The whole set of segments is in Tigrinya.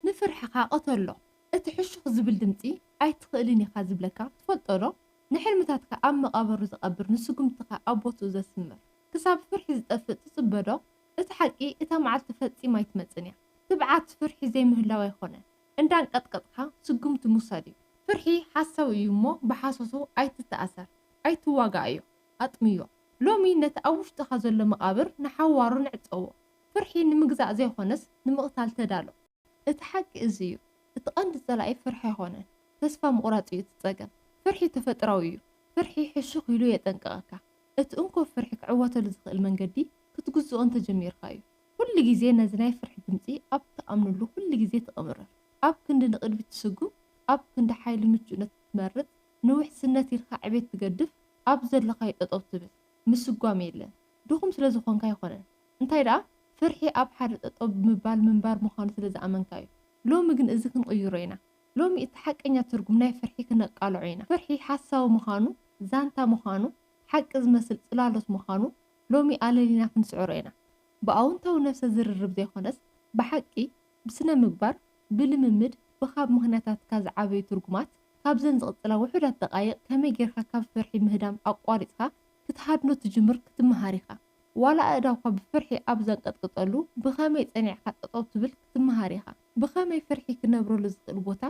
ንፍርሕኻ ቅተሎ እቲ ሕሹኽ ዝብል ድምጺ ኣይትኽእልን ኢኻ ዝብለካ ትፈልጦ ዶ ንሕልምታትካ ኣብ መቓብሩ ዝቐብር ንስጉምትኻ ኣብ ቦትኡ ዘስምር ክሳብ ፍርሒ ዝጠፍእ ትጽበ ዶ እቲ ሓቂ እታ መዓልቲ ፈጺማ ኣይትመጽን እያ ትብዓት ፍርሒ ዘይምህላው ኣይኮነን እንዳንቀጥቀጥካ ስጉምቲ ምውሳድ እዩ ፍርሒ ሓሳዊ እዩ እሞ ብሓሶቱ ኣይትተኣሰር ኣይትዋጋኣዮ ኣጥምዮ ሎሚ ነቲ ኣብ ውሽጥኻ ዘሎ መቓብር ንሓዋሩ ንዕጸዎ ፍርሒ ንምግዛእ ዘይኮነስ ንምቕታል ተዳሎ። እቲ ሓቂ እዚ እዩ። እቲ ቀንዲ ጸላኢ ፍርሒ ኣይኮነን። ተስፋ ምቑራጽ እዩ እቲ ጸገም። ፍርሒ ተፈጥራዊ እዩ። ፍርሒ ሕሹኽ ኢሉ የጠንቅቐካ። እቲ እንኮ ፍርሒ ክዕወተሉ ዝኽእል መንገዲ ክትግዝኦ እንተጀሚርካ እዩ። ኩሉ ግዜ ነዚ ናይ ፍርሒ ድምጺ ኣብ ትኣምነሉ ኩሉ ግዜ ትቕምርር። ኣብ ክንዲ ንቕድሚት ትስጉም፣ ኣብ ክንዲ ሓይሊ ምቹእነት ትመርጽ፣ ንውሕስነት ኢልካ ዕቤት ትገድፍ፣ ኣብ ዘሎካዮ ጠጠው ትብል። ምስጓም የለን። ድኹም ስለዝኾንካ ኣይኮነን። እንታይ ደኣ ፍርሒ ኣብ ሓደ ጠጠው ብምባል ምንባር ምዃኑ ስለ ዝኣመንካ እዩ። ሎሚ ግን እዚ ክንቕይሮ ኢና። ሎሚ እቲ ሓቀኛ ትርጉም ናይ ፍርሒ ክነቃልዖ ኢና። ፍርሒ ሓሳዊ ምዃኑ፣ ዛንታ ምዃኑ፣ ሓቂ ዝመስል ጽላሎት ምዃኑ ሎሚ ኣለሊና ክንስዕሮ ኢና። ብኣውንታዊ ነብሰ ዝርርብ ዘይኮነስ ብሓቂ፣ ብስነ ምግባር፣ ብልምምድ፣ ብካብ ምኽንያታትካ ዝዓበዩ ትርጉማት። ካብዘን ዝቕጽላ ውሑዳት ደቓይቕ ከመይ ጌርካ ካብ ፍርሒ ምህዳም ኣቋሪጽካ ክትሃድኖ ትጅምር ክትመሃር ኢኻ። ዋላ ኣእዳውካ ብፍርሒ ኣብ ዘንቀጥቅጠሉ ብኸመይ ጸኒዕካ ጠጠው ትብል ክትመሃር ኢኻ። ብኸመይ ፍርሒ ክነብረሉ ዝኽእል ቦታ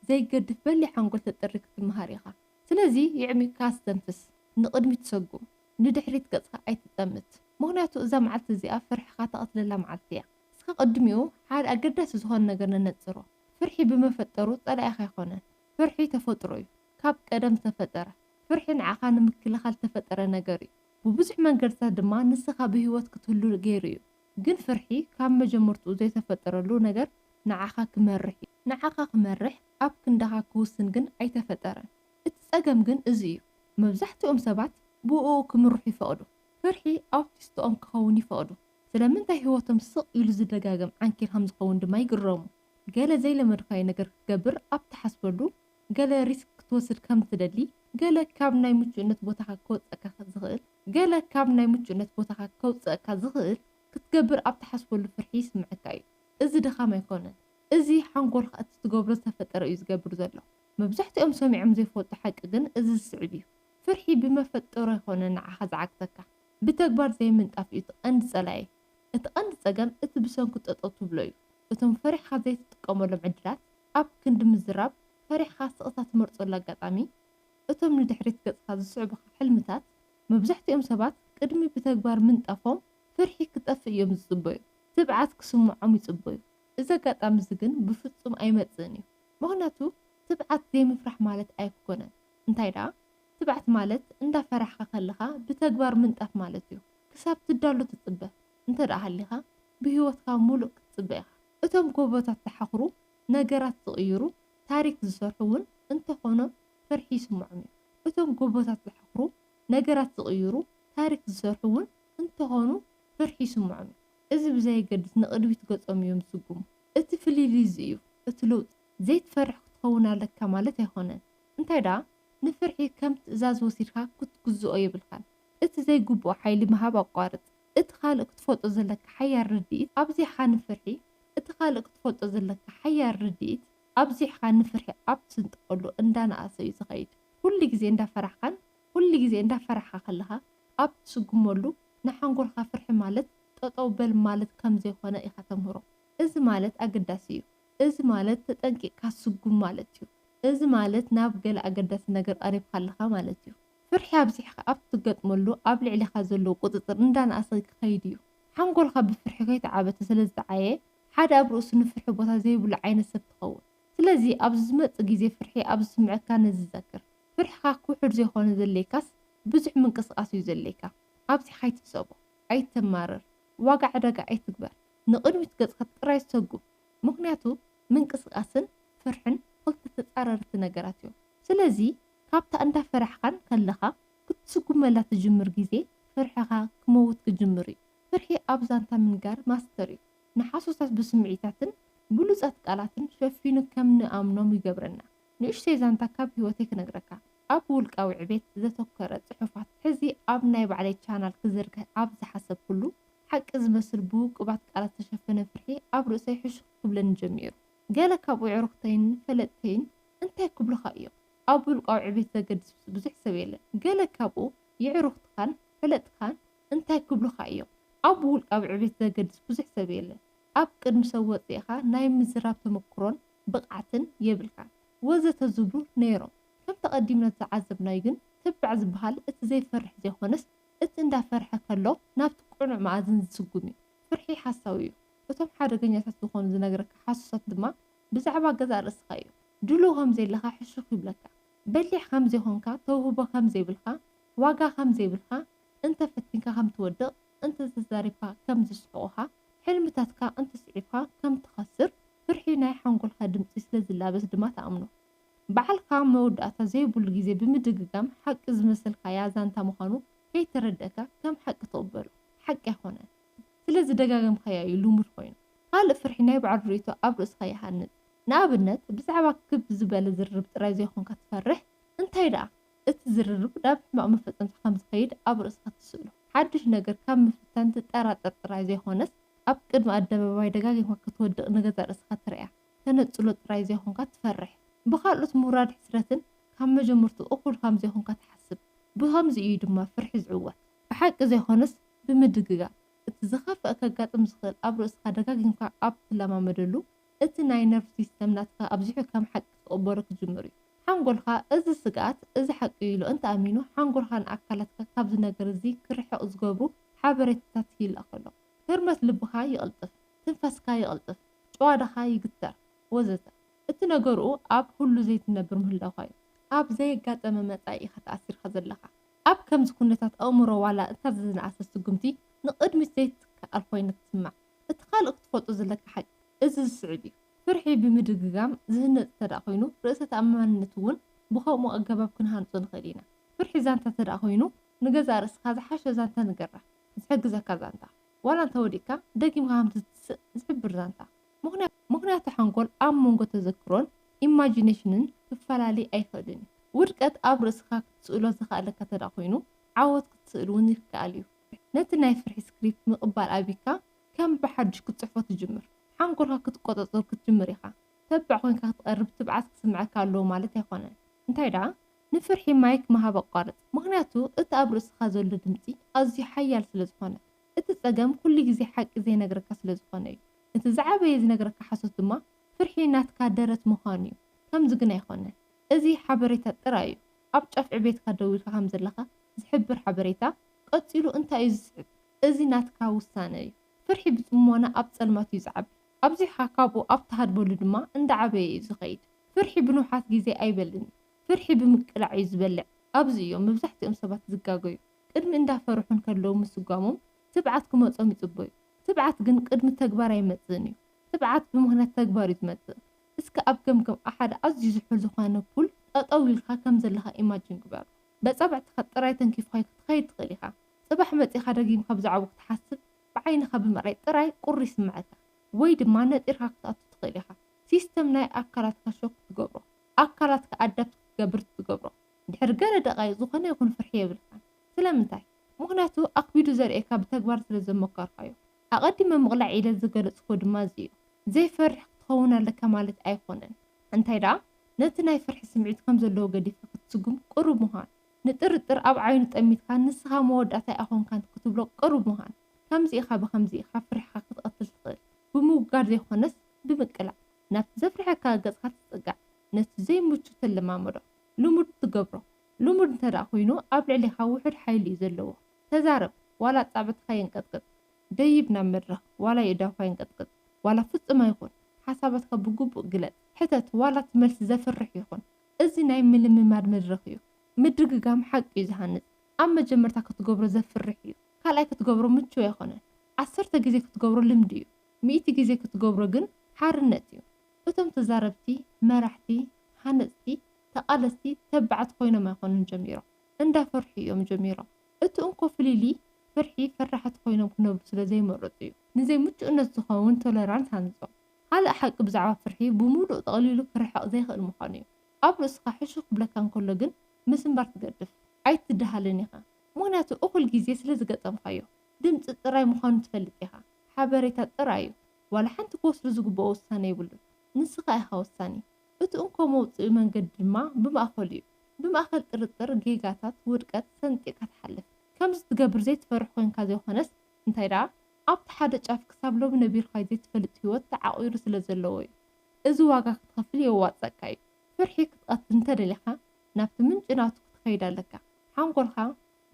ዘይገድፍ በሊሕ ሓንጎል ተጥሪ ክትመሃር ኢኻ። ስለዚ የዕሚቕካ ኣስተንፍስ። ንቕድሚት ሰጉም። ንድሕሪት ገጽካ ኣይትጠምት። ምኽንያቱ እዛ መዓልቲ እዚኣ ፍርሕኻ ተቐትለላ መዓልቲ እያ። እስከ ቅድሚኡ ሓደ ኣገዳሲ ዝኾነ ነገር ነነጽሮ። ፍርሒ ብመፈጠሩ ጸላኢኻ ኣይኮነን። ፍርሒ ተፈጥሮ እዩ። ካብ ቀደም ዝተፈጠረ። ፍርሒ ንዓኻ ንምክልኻል ዝተፈጠረ ነገር እዩ። ብብዙሕ መንገድታት ድማ ንስኻ ብህይወት ክትህሉ ገይሩ እዩ። ግን ፍርሒ ካብ መጀመርትኡ ዘይተፈጠረሉ ነገር ንዓኻ ክመርሕ እዩ። ንዓኻ ክመርሕ ኣብ ክንዳኻ ክውስን ግን ኣይተፈጠረን። እቲ ጸገም ግን እዚ እዩ፣ መብዛሕትኦም ሰባት ብእኡ ክምርሑ ይፈቕዱ። ፍርሒ ኣውቲስትኦም ክኸውን ይፈቕዱ፣ ስለምንታይ ህይወቶም ስቕ ኢሉ ዝደጋገም ዓንኬል ከም ዝኸውን ድማ ይግረሙ። ገለ ዘይለመድካዮ ነገር ክትገብር ኣብ ትሓስበሉ፣ ገለ ሪስክ ክትወስድ ከም እትደሊ፣ ገለ ካብ ናይ ምቹእነት ቦታኻ ከወጸካ ዝኽእል፣ ገለ ካብ ናይ ምቹእነት ቦታኻ ከውጽኣካ ዝኽእል ክትገብር ኣብ ትሓስበሉ ፍርሒ ይስምዐካ እዩ። እዚ ድኻም ኣይኮነን። እዚ ሓንጎልካ እቲ ትገብሮ ዝተፈጠረ እዩ ዝገብር ዘሎ። መብዛሕትኦም ሰሚዖም ዘይፈልጡ ሓቂ ግን እዚ ዝስዕብ እዩ። ፍርሒ ብመፈጠሩ ኣይኮነን ንዓኻ ዝዓግተካ። ብተግባር ዘይምንጣፍ እዩ እቲ ቀንዲ ጸላኢ። እቲ ቀንዲ ጸገም እቲ ብሰንኩ ጠጠው ትብሎ እዩ። እቶም ፈሪሕኻ ዘይትጥቀመሎም ዕድላት፣ ኣብ ክንዲ ምዝራብ፣ ፈሪሕኻ ስቕታ ትመርጸሉ ኣጋጣሚ፣ እቶም ንድሕሪት ገጽካ ዝስዕቡኻ ሕልምታት፣ መብዛሕትኦም ሰባት ቅድሚ ብተግባር ምንጣፎም ፍርሒ ክጠፍእ እዮም ዝጽበዩ። ትብዓት ክስምዖም ይጽበዩ። እዚ ኣጋጣሚ እዚ ግን ብፍጹም ኣይመጽእን እዩ። ምኽንያቱ ትብዓት ዘይምፍራሕ ማለት ኣይኮነን። እንታይ ደኣ፣ ትብዓት ማለት እንዳፈራሕካ ከለኻ ብተግባር ምንጣፍ ማለት እዩ። ክሳብ ትዳሎ ትጽበ። እንተድኣ ሃሊኻ ብህይወትካ ምሉእ ክትጽበ ኢኻ። እቶም ጎቦታት ዝሓኽሩ፣ ነገራት ዝቕይሩ፣ ታሪኽ ዝሰርሑ ውን እንተኾኑ ፍርሒ ይስምዖም እዩ። እቶም ጎቦታት ዝሓኽሩ፣ ነገራት ዝቕይሩ፣ ታሪኽ ዝሰርሑ ውን እንተኾኑ ፍርሒ ይስምዖም እዩ። እዚ ብዘየገድስ ንቕድሚት ገጾም እዮም ዝስጉሙ። እቲ ፍልልይ እዚ እዩ፣ እቲ ለውጢ። ዘይትፈርሕ ክትኸውን ኣለካ ማለት ኣይኮነን፣ እንታይ ድኣ ንፍርሒ ከም ትእዛዝ ወሲድካ ክትግዝኦ የብልካን። እቲ ዘይግብኦ ሓይሊ ምሃብ ኣቋርጽ። እቲ ካልእ ክትፈልጦ ዘለካ ሓያል ርድኢት ኣብዚሕካ ንፍርሒ እቲ ካልእ ክትፈልጦ ዘለካ ሓያል ርድኢት ኣብዚሕካ ንፍርሒ ኣብ ትስንጥቀሉ እንዳነኣሰ እዩ ዝኸይድ ኩሉ ግዜ እንዳፈራሕካን ኩሉ ግዜ እንዳፈራሕካ ከለኻ ኣብ ትስጉመሉ ንሓንጎልካ ፍርሒ ማለት ጠጠው በል ማለት ከም ዘይኮነ ኢኻ ተምህሮ እዚ ማለት ኣገዳሲ እዩ እዚ ማለት ተጠንቂቅካ ስጉም ማለት እዩ እዚ ማለት ናብ ገለ ኣገዳሲ ነገር ቀሪብካ ኣለኻ ማለት እዩ። ፍርሒ ኣብዚሕካ ኣብ ትገጥመሉ ኣብ ልዕሌኻ ዘለዎ ቁጽጽር እንዳነኣሰ ክኸይድ እዩ። ሓንጎልካ ብፍርሒ ከይተዓበተ ስለ ዝጠዓየ ሓደ ኣብ ርእሱ ንፍርሒ ቦታ ዘይብሉ ዓይነት ሰብ ትኸውን። ስለዚ ኣብዚ ዝመጽእ ግዜ ፍርሒ ኣብ ዝስምዐካ ነዚ ዘክር። ፍርሕኻ ክውሕድ ዘይኮነ ዘድልየካስ ብዙሕ ምንቅስቃስ እዩ ዘድልየካ። ኣብዚሕካ ኣይትሕሰቦ። ኣይተማርር። ዋጋ ዕዳጋ ኣይትግበር። ንቕድሚት ገጽካ ጥራይ ሰጉም። ምኽንያቱ ምንቅስቃስን ፍርሕን ክልተ ተጻረርቲ ነገራት እዮም። ስለዚ። ካብታ እንዳፈራሕካን ከለኻ ክትስጉመላ ትጅምር ግዜ ፍርሕኻ ክመውት ክጅምር እዩ። ፍርሒ ኣብ ዛንታ ምንጋር ማስተር እዩ። ንሓሶታት ብስምዒታትን ብሉጻት ቃላትን ሸፊኑ ከም ንኣምኖም ይገብረና። ንእሽተይ ዛንታ ካብ ሂወተይ ክነግረካ። ኣብ ውልቃዊ ዕቤት ዘተኮረ ጽሑፋት ሕዚ ኣብ ናይ ባዕለይ ቻናል ክዝርግሕ ኣብ ዝሓሰብኩሉ፣ ሓቂ ዝመስል ብውቁባት ቃላት ዝተሸፈነ ፍርሒ ኣብ ርእሰይ ሕሹኽ ክብለኒ ጀሚሩ። ገለ ካብ ኡዕሩኽተይን ፈለጥተይን እንታይ ክብሉኻ እዮም? ኣብ ውልቃዊ ዕቤት ዘገድስብስ ብዙሕ ሰብ የለን። ገለ ካብ ኡ ይዕሩኽትኻን ፈለጥትኻን እንታይ ክብሉኻ እዮም? ኣብ ውልቃዊ ዕቤት ዘገድስ ብዙሕ ሰብ የለን። ኣብ ቅድሚ ሰብ ወጺእኻ ናይ ምዝራብ ተመኩሮን ብቕዓትን የብልካን። ወዘተ ዝብሉ ነይሮም። ከምቲ ኣቐዲምና ዝዓዘብናዩ ግን ትባዕ ዝበሃል እቲ ዘይፈርሕ ዘይኮነስ እቲ እንዳፈርሐ ከሎ ናብቲ ቅኑዕ መኣዝን ዝስጉምዩ። ፍርሒ ሓሳዊዩ። እቶም ሓደገኛታት ዝኾኑ ዝነግረካ ሓሶሳት ድማ ብዛዕባ ገዛእ ርእስኻ እዮም። ድሉው ከም ዘይለኻ ሕሹኽ ይብለካ። በሊሕ ከም ዘይኮንካ፣ ተውህቦ ከም ዘይብልካ፣ ዋጋ ከም ዘይብልካ፣ እንተ ፈቲንካ ከም ትወድቕ፣ እንተ ተዛሪብካ ከም ዝስሕቑኻ፣ ሕልምታትካ እንተ ስዒብካ ከም ትኸስር ፍርሒ ናይ ሓንጎልካ ድምጺ ስለ ዝላበስ ድማ ትኣምኖ። ባዕልካ መወዳእታ ዘይብሉ ግዜ ብምድግጋም ሓቂ ዝመሰልካያ ዛንታ ምዃኑ ከይተረድእካ ከም ሓቂ ትቕበሎ። ሓቂ ኣይኮነን። ስለ ዝደጋገምካዮ እዩ ልሙድ ኮይኑ። ካልእ ፍርሒ ናይ ባዕሉ ርእይቶ ኣብ ርእስኻ ይሃንጽ። ንኣብነት፣ ብዛዕባ ክብ ዝበለ ዝርርብ ጥራይ ዘይኮንካ ትፈርሕ፣ እንታይ ደኣ፣ እቲ ዝርርብ ናብ ሕማቕ መፈጸምታ ከም ዝኸይድ ኣብ ርእስኻ ትስእሎ። ሓድሽ ነገር ካብ ምፍታን ትጠራጠር ጥራይ ዘይኮነስ፣ ኣብ ቅድሚ ኣደባባይ ደጋጊምካ ክትወድቕ ንገዛእ ርእስኻ ትርእያ ተነጽሎ ጥራይ ዘይኮንካ ትፈርሕ። ብካልኦት ምውራድ ሕስረትን ካብ መጀመርትኡ እኹል ከም ዘይኮንካ ትሓስብ። ብኸምዚ እዩ ድማ ፍርሒ ዝዕወት። ብሓቂ ዘይኮነስ፣ ብምድግጋም፣ እቲ ዝኸፍኣ ከጋጥም ዝኽእል ኣብ ርእስኻ ደጋጊምካ ኣብ ትለማመደሉ፣ እቲ ናይ ነርቭ ሲስተም ናትካ ኣብዚሑ ከም ሓቂ ክቕበሎ ክጅምር እዩ። ሓንጎልካ እዚ ስግኣት እዚ ሓቂ እዩ ኢሉ እንተ ኣሚኑ፣ ሓንጎልካ ንኣካላትካ ካብዚ ነገር እዚ ክርሕቕ ዝገብሩ ሓበሬታታት ይልኣኾ ኣሎ። ህርመት ልብኻ ይቕልጥፍ፣ ትንፋስካ ይቕልጥፍ፣ ጭዋዳኻ ይግተር ወዘተ። እቲ ነገርኡ ኣብ ህሉ ዘይትነብር ምህላውካ እዩ። ኣብ ዘየጋጠመ መጻኢ ኢኻ ተኣሲርካ ዘለኻ። ኣብ ከምዚ ኩነታት ኣእምሮ ዋላ እታ ዝነኣሰት ስጉምቲ ንቕድሚት ዘይትከኣል ኮይና ትስማዕ። እቲ ካልእ ክትፈልጦ ዘለካ ሓቂ እዚ ዝስዕብ እዩ፣ ፍርሒ ብምድግጋም ዝህነጽ እንተደኣ ኮይኑ ርእሰ ተኣማንነት እውን ብኸምኡ ኣገባብ ክንሃንጾ ንኽእል ኢና። ፍርሒ ዛንታ እንተደኣ ኮይኑ ንገዛእ ርእስኻ ዝሓሸ ዛንታ ንገራ። ዝሕግዘካ ዛንታ። ዋላ እንተወዲቕካ ደጊምካ ከም ትትስእ ዝሕብር ዛንታ። ምኽንያቱ ሓንጎል ኣብ መንጎ ተዘክሮን ኢማጂነሽንን ክፈላሊ ኣይኽእልን እዩ። ውድቀት ኣብ ርእስኻ ክትስእሎ ዝክኣለካ ተድኣ ኮይኑ ዓወት ክትስእል እውን ይክኣል እዩ። ነቲ ናይ ፍርሒ ስክሪፕት ምቕባል ኣቢካ ከም ብሓዱሽ ክትጽሕፎ ትጅምር። ሓንጎልካ ክትቆጸጸሩ ክትጅምር ኢኻ። ተባዕ ኮይንካ ክትቐርብ ትብዓት ክስምዓካ ኣለዎ ማለት ኣይኮነን። እንታይ ድኣ ንፍርሒ ማይክ ምሃብ ኣቋርጽ። ምኽንያቱ እቲ ኣብ ርእስኻ ዘሎ ድምጺ ኣዝዩ ሓያል ስለ ዝኾነ። እቲ ጸገም ኩሉ ግዜ ሓቂ ዘይነግረካ ስለ ዝኮነ እዩ እቲ ዝዓበየ ዝነግረካ ሓሶት ድማ ፍርሒ ናትካ ደረት ምኳኑ እዩ ከምዚ ግን ኣይኮነን እዚ ሓበሬታ ጥራይ እዩ ኣብ ጫፍ ዕቤትካ ደው ኢልካ ከም ዘለካ ዝሕብር ሓበሬታ ቀጺሉ እንታይ እዩ ዝስዕብ እዚ ናትካ ውሳነ እዩ ፍርሒ ብጽሞና ኣብ ጸልማት እዩ ዝዓቢ ኣብዚሕካ ካብኡ ኣብ ትሃድመሉ ድማ እንዳ ዓበየ እዩ ዝከይድ ፍርሒ ብንውሓት ግዜ ኣይበልን እዩ ፍርሒ ብምቅላዕ እዩ ዝበልዕ ኣብዚ እዮም መብዛሕቲኦም ሰባት ዝጋገዩ። ቅድሚ እንዳ ፈርሑ እንከለዉ ምስጓሞም ትብዓት ክመጾም ይጽበዩ። ትብዓት ግን ቅድሚ ተግባር ኣይመጽእን እዩ። ትብዓት ብምኽንያት ተግባር እዩ ዝመጽእ። እስከ ኣብ ገምገም ኣብ ሓደ ኣዝዩ ዝሑል ዝኾነ ፑል ጠጠው ኢልካ ከም ዘለኻ ኢማጂን ግበር። በጻብዕትኻ ጥራይ ተንኪፍካዮ ክትኸይድ ትኽእል ኢኻ። ጽባሕ መጺኻ ደጊምካ ብዛዕብኡ ክትሓስብ ብዓይንኻ ብምርኣይ ጥራይ ቁሪ ይስምዓካ። ወይ ድማ ነጢርካ ክትኣቱ ትኽእል ኢኻ። ሲስተም ናይ ኣካላትካ ሾክ ትገብሮ። ኣካላትካ ኣዳፕት ክትገብር ትገብሮ። ድሕሪ ገለ ደቓይቕ ዝኾነ ይኹን ፍርሒ የብልካን። ስለምንታይ? ምኽንያቱ ኣኽቢዱ ዘርእየካ ብተግባር ስለ ዘሞከርካዮ። ኣቐዲመ ምቕላዕ ኢለ ዝገለጽኩዎ ድማ እዚ እዩ። ዘይፈርሕ ክትኸውን ኣለካ ማለት ኣይኮነን። እንታይ ደኣ ነቲ ናይ ፍርሒ ስምዒት ከም ዘለዎ ገዲፍካ ክትስጉም ቅሩብ ምዃን። ንጥርጥር ኣብ ዓይኑ ጠሚትካ ንስኻ መወዳእታይ ኣኮንካን ክትብሎ ቅሩብ ምዃን። ከምዚ ኢኻ ብኸምዚ ኢኻ ፍርሕኻ ክትቐትል ትኽእል። ብምውጋድ ዘይኮነስ ብምቅላዕ። ናብቲ ዘፍርሐካ ገጽካ ትጽጋዕ። ነቲ ዘይምቹ ትለማመዶ። ልሙድ ትገብሮ ልሙድ እንተድኣ ኮይኑ ኣብ ልዕሌኻ ውሑድ ሓይሊ እዩ ዘለዎ ተዛረብ ዋላ ኣጻብዕትኻ የንቀጥቅጥ ደይብ ናብ መድረኽ ዋላ የእዳውካ የንቀጥቅጥ ዋላ ፍጹም ኣይኹን ሓሳባትካ ብግቡእ ግለጽ ሕተት ዋላ እቲ መልሲ ዘፍርሕ ይኹን እዚ ናይ ምልምማድ መድረኽ እዩ ምድግጋም ሓቂ እዩ ዝሃንጽ ኣብ መጀመርታ ክትገብሮ ዘፍርሕ እዩ ካልኣይ ክትገብሮ ምቹው ኣይኮነን ዓሰርተ ግዜ ክትገብሮ ልምዲ እዩ ሚእቲ ግዜ ክትገብሮ ግን ሓርነት እዩ እቶም ተዛረብቲ መራሕቲ ሃነጽቲ ተቃለስቲ ተባዓት ኮይኖም ኣይኮኑን ጀሚሮም እንዳፈርሑ ኢዮም ጀሚሮም እቲ እንኮ ፍሊልይ ፍርሒ ፈራሓት ኮይኖም ክነብሩ ስለ ዘይመረጹ ኢዩ ንዘይ ምቹእነት ዝከውን ቶለራንት ሃንጾም ካልእ ሓቂ ብዛዕባ ፍርሒ ብሙሉእ ጠቅሊሉ ክርሕቅ ዘይክእል ምኳኑ ኢዩ ኣብ ርእስካ ሕሹ ክብለካ እንከሎ ግን ምስንባር ትገድፍ ኣይትዳሃልን ኢካ ምክንያቱ እኩል ግዜ ስለ ዝገጠምካዮ ድምጺ ጥራይ ምኳኑ ትፈልጥ ኢካ ሓበሬታ ጥራይ ኢዩ። ዋላ ሓንቲ ክወስዱ ዝግብኦ ውሳነ የብሉን። ንስኻ ኢኻ ወሳኒ። እቲ እንኮ መውጽኢ መንገዲ ድማ ብማእከሉ እዩ። ብማእከል ጥርጥር፣ ጌጋታት፣ ውድቀት ሰንጢቕካ ትሓልፍ። ከምዚ ትገብር ዘይትፈርሕ ኮይንካ ዘይኮነስ፣ እንታይ ደኣ ኣብቲ ሓደ ጫፍ ክሳብ ሎሚ ነቢርካዮ ዘይትፈልጥ ህይወት ተዓቚሩ ስለ ዘለዎ እዩ። እዚ ዋጋ ክትኸፍል የዋጽኣካ እዩ። ፍርሒ ክትቐትል እንተደሊኻ ናብቲ ምንጪ ናቱ ክትኸይድ ኣለካ። ሓንጎልካ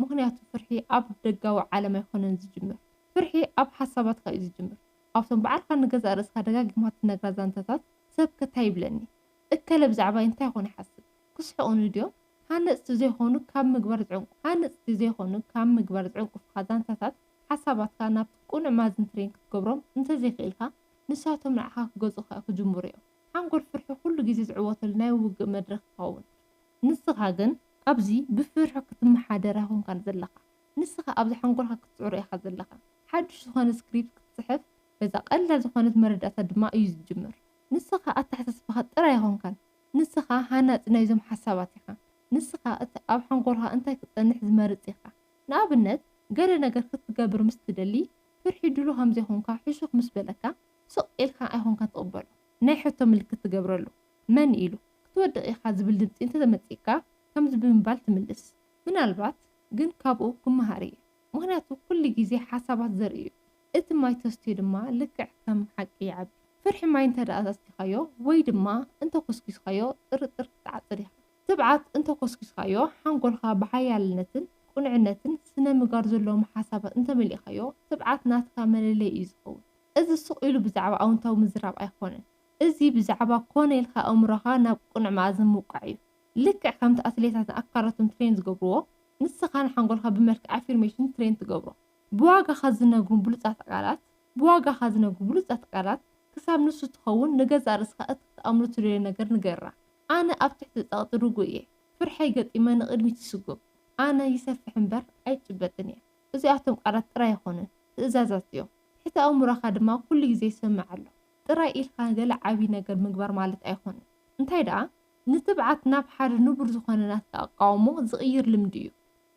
ምኽንያቱ ፍርሒ ኣብ ደጋዊ ዓለም ኣይኮነን ዝጅምር። ፍርሒ ኣብ ሓሳባትካ እዩ ዝጅምር። ኣብቶም ብዓልካ ንገዛእ ርእስካ ደጋጊምካ ትነግራ ዛንታታት ሰብከ ታይ ይብለኒ? እከለ ብዛዕባይ እንታይ ኮን ይሓስብ? ክስሕቑኒ ድዮም? ሃነጽቲ ዘይኮኑ ካብ ምግባር ዝዕንቁ ሃነጽቲ ዘይኮኑ ካብ ምግባር ዝዕንቁፍኻ ዛንታታት ሓሳባትካ ናብቲ ቅኑዕ ማዝን ፍሬን ክትገብሮም እንተዘይክኢልካ ንሳቶም ንዓኻ ክገዝኡኻ ክጅምሩ እዮም። ሓንጎል ፍርሒ ኩሉ ግዜ ዝዕወተሉ ናይ ውግእ መድረኽ ይኸውን። ንስኻ ግን ኣብዚ ብፍርሒ ክትመሓደር ኣይኮንካን ዘለኻ። ንስኻ ኣብዚ ሓንጎልካ ክትጽዕሮ ኢኻ ዘለኻ። ሓድሽ ዝኾነ ስክሪፕት ክትጽሕፍ በዛ ቀላል ዝኾነት መረዳእታ ድማ እዩ ዝጅምር። ንስኻ ኣተሓሳስባኻ ጥራይ ኣይኮንካን። ንስኻ ሃናጺ ናይዞም ሓሳባት ኢኻ። ንስኻ እቲ ኣብ ሓንጎልካ እንታይ ክጸንሕ ዝመርጽ ኢኻ። ንኣብነት ገለ ነገር ክትገብር ምስ ትደሊ ፍርሒ ድሉው ከም ዘይኮንካ ሕሹኽ ምስ በለካ ስቕ ኢልካ ኣይኮንካን ትቕበሎ፣ ናይ ሕቶ ምልክት ትገብረሉ። መን ኢሉ? ክትወድቕ ኢኻ ዝብል ድምጺ እንተተመጺእካ ከምዚ ብምባል ትምልስ። ምናልባት ግን ካብኡ ክመሃር እየ። ምኽንያቱ ኩሉ ግዜ ሓሳባት ዘርኢ እዩ። እቲ ማይ ተስትዮ ድማ ልክዕ ከም ሓቂ ይዓቢ። ፍርሒ ማይ እንተድኣ ኣስቲኻዮ ወይ ድማ እንተ ኮስኪስካዮ ጥርጥር ክትዓጽድ ኢኻ። ትብዓት እንተ ኮስኪስካዮ ሓንጎልካ ብሓያልነትን ቅኑዕነትን ስነ-ምግባር ዘለዎም ሓሳባት እንተመሊእካዮ ትብዓት ናትካ መለለዪ እዩ ዝኸውን። እዚ ሱቕ ኢሉ ብዛዕባ ኣውንታዊ ምዝራብ ኣይኮነን። እዚ ብዛዕባ ኮነ ኢልካ ኣእምሮኻ ናብ ቅኑዕ መኣዝን ምውቃዕ እዩ። ልክዕ ከምቲ ኣትሌታት ንኣካላቶም ትሬን ዝገብርዎ፣ ንስኻ ንሓንጎልካ ብመልክዕ ኣፊርሜሽን ትሬን ትገብሮ። ብዋጋኻ ዝነግሩ ብሉጻት ቃላት፣ ብዋጋኻ ዝነግሩ ብሉጻት ቃላት፣ ክሳብ ንሱ ትኸውን ንገዛእ ርእስኻ እቲ ክትኣምኖ ትደልዮ ነገር ንገራ። ኣነ ኣብ ትሕቲ ጸቕጢ ርጉእ እየ። ፍርሐይ ገጢመ ንቕድሚት ይስጉም። ኣነ ይሰፍሕ እምበር ኣይጭበጥን እየ። እዚኣቶም ቃላት ጥራይ ኣይኮኑን፣ ትእዛዛት እዮም። ትሕተ ኣእምሮኻ ድማ ኩሉ ግዜ ይሰምዕ ኣሎ። ጥራይ ኢልካ ገለ ዓቢ ነገር ምግባር ማለት ኣይኮነን። እንታይ ደኣ ንትብዓት ናብ ሓደ ንቡር ዝኾነ ናትካ ኣቃውሞ ዝቕይር ልምዲ እዩ።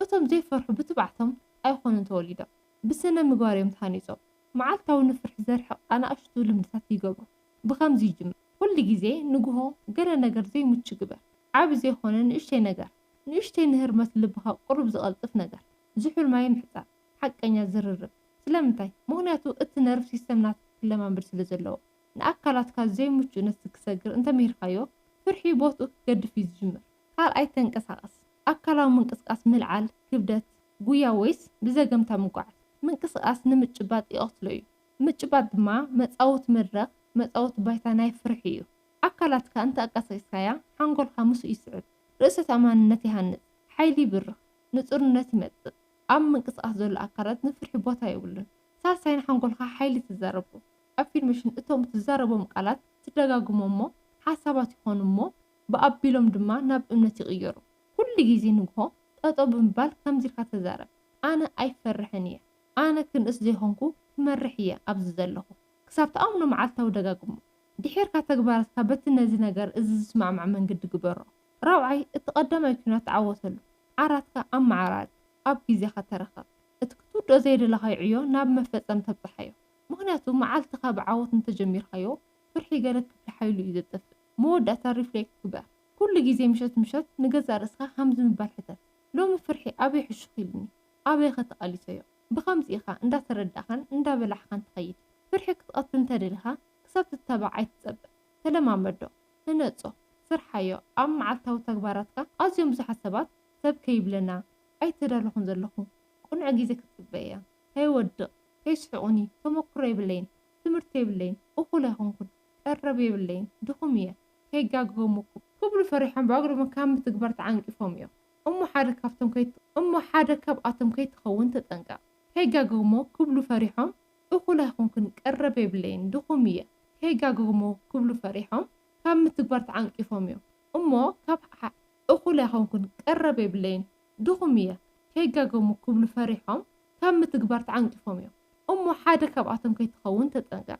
እቶም ዘይፈርሑ ብትብዓቶም ኣይኮኑን ተወሊዶም። ብስነ-ምግባር እዮም ተሃኒጾም። መዓልታዊ ንፍርሒ ዘርሕቕ ኣናእሽቱ ልምድታት ይገብሩ። ብኸምዚ ይጅምር። ኩሉ ግዜ ንግሆ ገለ ነገር ዘይምቹ ግበር። ዓቢ ዘይኮነ ንእሽተይ ነገር። ንእሽተይ ንህርመት ልብኻ ቅሩብ ዝቐልጥፍ ነገር። ዝሑል ማይ ምሕጻብ። ሓቀኛ ዝርርብ። ስለምንታይ? ምኽንያቱ እቲ ነርቭ ሲስተም ናትካ ክለማመድ ስለ ዘለዎ። ንኣካላትካ ዘይምቹእ ነቲ ክሰግር እንተ ምሂርካዮ፣ ፍርሒ ቦትኡ ክገድፍ እዩ ዝጅምር። ካልኣይ ተንቀሳቐስ። ኣካላዊ ምንቅስቓስ ምልዓል ክብደት፣ ጉያ ወይስ ብዘገምታ ምጉዓዝ፣ ምንቅስቓስ ንምጭባጥ ይቐትሎ እዩ። ምጭባጥ ድማ መጻወቲ መድረኽ፣ መጻወቲ ባይታ ናይ ፍርሒ እዩ። ኣካላትካ እንተ ኣቃሳቂስካያ፣ ሓንጎልካ ምስኡ ይስዕብ። ርእሰ ተኣማንነት ይሃንጽ። ሓይሊ ይብርኽ። ንጹርነት ይመጽእ። ኣብ ምንቅስቓስ ዘሎ ኣካላት ንፍርሒ ቦታ የብሉን። ሳልሳይ ንሓንጎልካ ሓይሊ ትዛረቦ። ኣፊርሜሽን እቶም እትዛረቦም ቃላት ትደጋግሞም እሞ ሓሳባት ይኾኑ እሞ ብኣቢሎም ድማ ናብ እምነት ይቕየሩ። ኩሉ ግዜ ንግሆ ጠጠው ብምባል ከምዚ ኢልካ ተዛረብ፣ ኣነ ኣይፈርሕን እየ፣ ኣነ ክንእስ ዘይኮንኩ ክመርሕ እየ ኣብዚ ዘለኹ። ክሳብ ትኣምኖ መዓልታዊ ደጋግሞ። ድሒርካ ተግባራትካ በቲ ነዚ ነገር እዚ ዝስማዕማዕ መንገዲ ግበሮ። ራብዓይ፣ እቲ ቀዳማይ ኲናት ተዓወተሉ። ዓራትካ ኣመዓራሪ። ኣብ ግዜኻ ተረከብ። እቲ ክትውድኦ ዘይደለኻዮ ዕዮ ናብ መፈጸም ተብጽሓዮ። ምኽንያቱ መዓልትኻ ብዓወት እንተጀሚርካዮ፣ ፍርሒ ገለ ክፍሊ ሓይሉ እዩ ዘጥፍእ። መወዳእታ ሪፍሌክት ግበር። ኩሉ ግዜ ምሸት ምሸት ንገዛእ ርእስኻ ከምዚ ምባል ሕተት፣ ሎሚ ፍርሒ ኣበይ ሕሹኽ ኢሉኒ? ኣበይኸ ተቓሊሰዮ? ብኸምዚ ኢኻ እንዳተረዳእካን እንዳበላሕካን ትኸይድ። ፍርሒ ክትቐትል እንተደሊኻ ክሳብ ትታባዕ ኣይትጸበ። ተለማመዶ። ህነጾ፣ ስርሓዮ፣ ኣብ መዓልታዊ ተግባራትካ ኣዝዮም ብዙሓት ሰባት ሰብ ከይብለና ኣይተዳለኹን ዘለኹ፣ ቅኑዕ ግዜ ክትጽበይ'ያ፣ ከይወድቕ፣ ከይስሕቑኒ፣ ተመኩሮ የብለይን፣ ትምህርቲ የብለይን፣ እኹል ኣይኮንኩን፣ ቀረብ የብለይን፣ ድኹም'የ፣ ከይጋገሙኩም። ክብሉ ፈሪሖም ብኣግርሞ ካብ ምትግባር ተዓንቂፎም'ዮ እሞ ሓደ ካብቶም እሞ ሓደ ካብኣቶም ከይትኸውን ተጠንቀቕ፣ ከይጋገሙ ክብሉ ፈሪሖም፣ እኹል ኣይኮንኩን ቀረብ የብለይን ድኹም እየ ከይጋገግሙ ክብሉ ፈሪሖም ካብ ምትግባር ተዓንቂፎም እዮም እሞ ካብ እኹል ኣይኮንኩን ቀረብ የብለይን ድኹም እየ ከይጋገግሙ ክብሉ ፈሪሖም ካብ ምትግባር ተዓንቂፎም እዮም እሞ ሓደ ካብኣቶም ከይትኸውን ተጠንቀቕ።